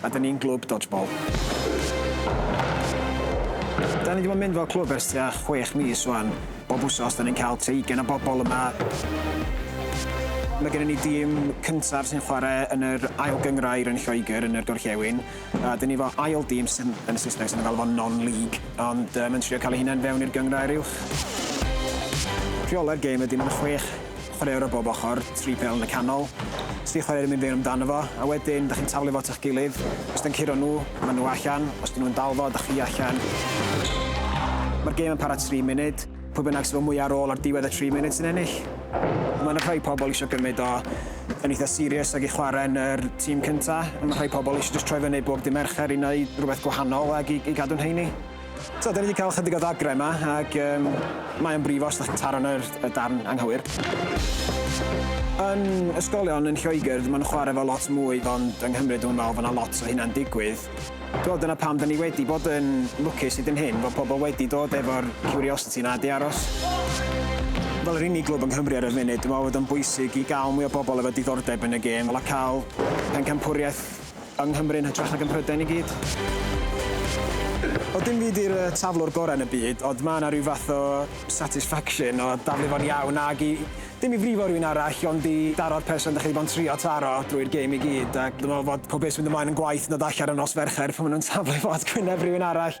A da ni'n glwb dodgeball. Da ni di bod yn mynd fel clwb ers tua chwech mis ŵan. Bob wsos da ni'n cael tua ugain o bobl yma. Mae gennym ni dîm cyntaf sy'n chwarae yn yr Ail Gynghrair yn Lloegr yn yr Gorllewin. A da ni efo ail dîm sy'n, yn y Saesneg sydd yn galw fo'n non-league, ond yy mae'n trio cael ei hunain fewn i'r Gynghrair Uwch. Rheolau'r gêm ydy mae 'na chwech chwaraewr o bob ochr, tri phêl yn y canol, os di chwaraewr yn mynd fewn amdano fo, a wedyn dych chi'n taflu fo at eich gilydd, os dyn curo nhw, maen nhw allan, os dyn nhw'n dal fo, dych chi allan. Mae'r gêm yn para tri munud, pwy bynnag sydd efo mwyaf ar ôl ar diwedd y tri munud sy'n ennill. Mae yna rhai pobl eisiau gymryd o yn eitha serious ac i chwarae yn yr tîm cynta, ond mae rhai pobl eisiau jyst troi fyny bob dydd Mercher i wneud rhywbeth gwahanol ac i, i gadw'n heini. So, da ni wedi cael chydig o ddagrau yma, ac um, mae o'n brifo os ydych chi'n taro yna'r y darn anghywir. Yn ysgolion yn Lloegr, mae'n chwarae fo lot mwy, ond yng Nghymru dwi'n meddwl fod yna lot o hynna'n digwydd. Dwi'n dyna pam da ni wedi bod yn lwcus hyd yn hyn, fod pobl wedi dod efo'r curiosity yna di aros. Fel yr unig glwb yng Nghymru ar y funud, dwi'n meddwl bod o'n bwysig i gael mwy o bobl efo diddordeb yn y gêm, fel a cael pencampwriaeth Yng Nghymru yn hytrach nag ym Mhrydain i gyd. O dim fi di'r taflwr gorau yn y byd ond mae yna rhyw fath o satisfaction o daflu fo'n iawn ag i, dim i frifo rhywun arall ond i daro'r person dach chi 'di bod yn trio taro drwy'r gêm i gyd ac dwi'n meddwl fod pob beth sy'n mynd ymlaen yn gwaeth na darllen y nos Fercher pan maen nhw'n taflu fo at gwyneb rhywun arall.